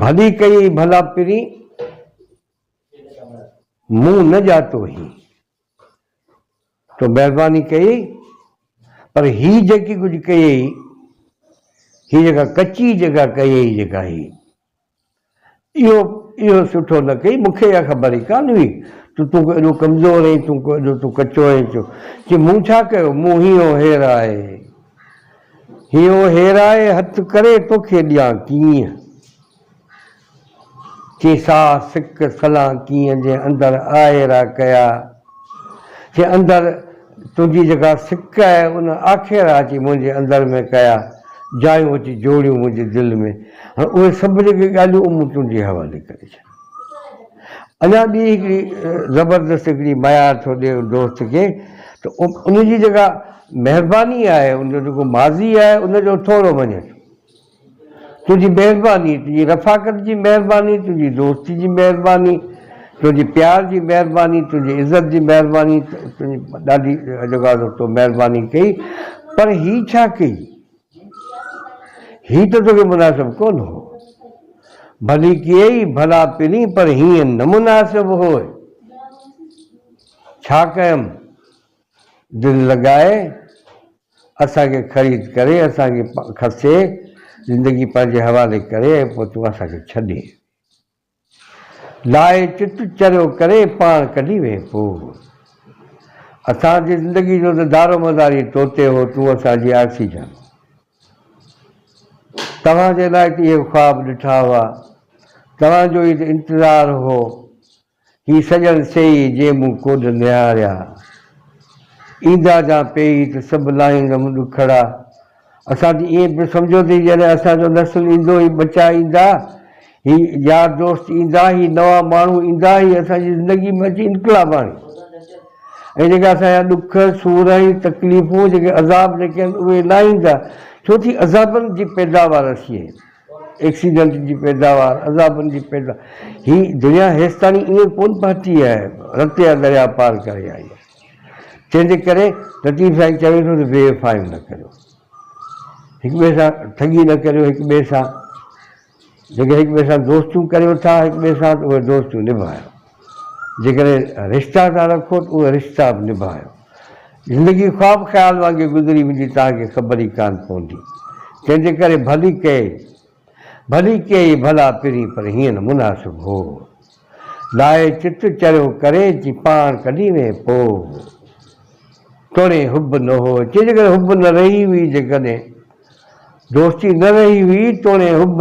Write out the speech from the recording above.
ڀلي ڪيئي ڀلا پرين، مون نه ڄاتو هين. تو مهرباني ڪيئي، پر هي جيڪي ڪجهه ڪيئي، هي جيڪا ڪچي جيڪا ڪيئي جيڪا هي، اهو اهو سٺو نه ڪيئي. مون کي اها خبر ئي ڪانه هئي ته تون ڪو ايڏو ڪمزور اهين، تون ڪو ايڏو تون ڪچو اهين. چيو، مون ڇا ڪيو؟ مون هينئون هير آهي. هيو هيرائي هٿ ڪري توکي ڏيان ڪيئن؟ چي ساهه سڪ سلان ڪيئن جي اندر آئيرا ڪيا؟ چي اندر تنهنجي جيڪا سڪ آهي ان آکيرا اچي منهنجي اندر ۾ ڪيا، جايون اچي جوڙيون منهنجي دل ۾. هاڻ اهي سڀ جيڪي ڳالهيون مون تنهنجي حوالي ڪري ڇڏيون. اڃا ٻي هڪڙي زبردست هڪڙي معيار ٿو ڏي ان دوست کي ته ان جي جيڪا مهرباني آهي ان جو جيڪو ماضي آهي ان جو ٿورو مڃ تنهنجي مهرباني تنهنجي رفاقت جي مهرباني تنهنجي دوستي جي مهرباني تنهنجي پيار جي مهرباني تنهنجي عزت جي مهرباني تنهنجي ڏاڍي جيڪا تو مهرباني ڪئي پر هي ڇا ڪئي هي ته توکي مناسب ڪونه هو. ڀلي ڪيئي ڀلا پرين پر هيئن نه مناسب هوء. ڇا ڪيم؟ دل لڳائي اسان کي خريد ڪري، اسان کي کسي، زندگي پنهنجي حوالي ڪري ۽ پوء تون اسان کي ڇڏي. لاء چت چريو ڪري پاڻ ڪڍي ويهي پو. اسان جي زندگي جو ته دارومدار ئي تو تي هو، تون اسان جي آڪسيجن. توهان جي لاء ته اهي خواب ڏٺا هئا، توهان جو ئي ته انتظار هو، هي سڄڻ سيئي جي مون ڪوڏ نهاريا. ايندا جان پيئي ته سڀ لاهيندم ڏکڙا. اسان تي ائين پيو سمجهيو ٿي ڄڻ اسان جو نسل ايندو، هي ٻچا ايندا، هي يار دوست ايندا، هي نوان ماڻهو ايندا، هي اسان جي زندگي ۾ اچي انقلاب آڻي ۽ جيڪي اسان جا ڏک، سور ۽ تڪليفون، جيڪي عذاب جيڪي آهن اهي نه ايندا، ڇو ٿي عذابن جي پيداوار اسين آهيون، ايڪسيڊنٽ جي پيداوار، عذابن جي پيداوار، هي دنيا هيستائين ائين ڪونه پهتي آهي، رتيا درياء پار ڪري آئي آهي. تنهنجي ڪري لطيف سائين چوي ٿو ته بي وفايون نه ڪريو، هڪ ٻئي سان ٺڳي نه ڪريو، هڪ ٻئي سان جيڪي هڪ ٻئي سان دوستيون ڪريو ٿا هڪ ٻئي سان ته اهي دوستيون نڀايو، جيڪڏهن رشتا ٿا رکو ته اهي رشتا به نڀايو. زندگي خواب خيال وانگي گذري ويندي توهان کي خبر ئي ڪانه پوندي، تنهنجي ڪري ڀلي ڪئي ڀلي ڪيئي ڀلا پرين پر هيئن نه مناسب هو لاهي چت چريو ڪري چي پاڻ ڪڏي وين پو توڻي حب نه هو چي جيڪڏهن حب نه رهي هئي جيڪڏهن دوستي نه رهي هئي توڻي حب